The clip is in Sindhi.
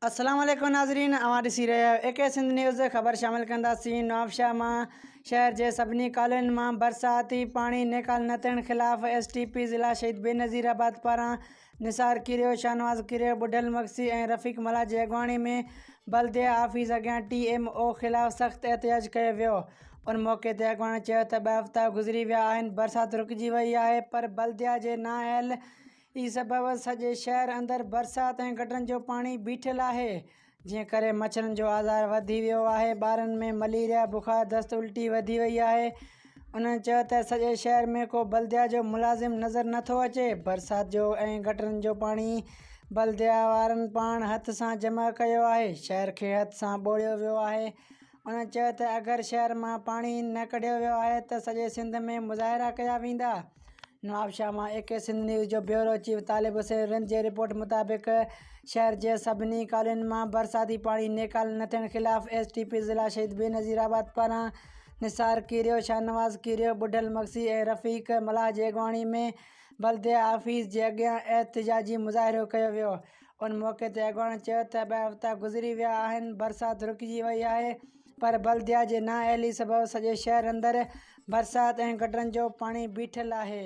السلام عليڪم ناظرين اوهان ڏسي رهيا آهيو اي ڪي سنڌ نيوز خبر شامل ڪنداسين نوابشاهه مان شهر جي سڀني ڪالونين مان برساتي پاڻي نيڪال نه ٿيڻ خلاف ايس ٽي پي ضلع شهيد بينظير آباد پاران نثار ڪريو، شاهنواز ڪريو، ٻڍل مگسي ۽ رفيق ملاح جي اڳواڻي ۾ بلديه آفيس اڳيان ٽي ايم او خلاف سخت احتجاج ڪيو ويو. ان موقعي تي اڳواڻن چيو ته ٻه هفتا گذري ويا آهن برسات رڪجي وئي آهي پر بلديه جي نااهل ئي سبب سڄي شهر اندر برسات ۽ گٽرن جو پاڻي بيٺل آهي جنهن ڪري مڇرن جو آزار وڌي ويو آهي ٻارن ۾ مليريا بخار دست الٽي وڌي وئي آهي انهن چيو ته سڄي شهر ۾ ڪو بلديا جو ملازم نظر نٿو اچي برسات جو ۽ گٽرن جو پاڻي بلديا وارن پاڻ هٿ سان جمع ڪيو آهي شهر کي هٿ سان ٻوڙيو ويو آهي انهن چيو ته اگر شهر مان پاڻي نه ڪڍيو ويو آهي ته سڄي سنڌ ۾ مظاهرا ڪيا ويندا نوابشاهه مان اي ڪي سنڌ نيوز جو بيورو چيف طالب حسين رند جي رپورٽ مطابق شهر جي سڀني ڪالين مان برساتي پاڻي نيڪال نه ٿيڻ خلاف ايس ٽي پي ضلع شهيد بينظير آباد پاران نثار ڪيريو شاهنواز ڪيريو ٻڍل مگسي ۽ رفيق ملاح جي اڳواڻي ۾ بلديه آفيس جي اڳيان احتجاجي مظاهرو ڪيو ويو ان موقعي تي اڳواڻن چيو ته ٻه هفتا گذري ويا آهن برسات رڪجي وئي آهي پر بلديا جي نااهلي سبب سڄي شهر اندر برسات ۽ گٽرن جو پاڻي بيٺل آهي.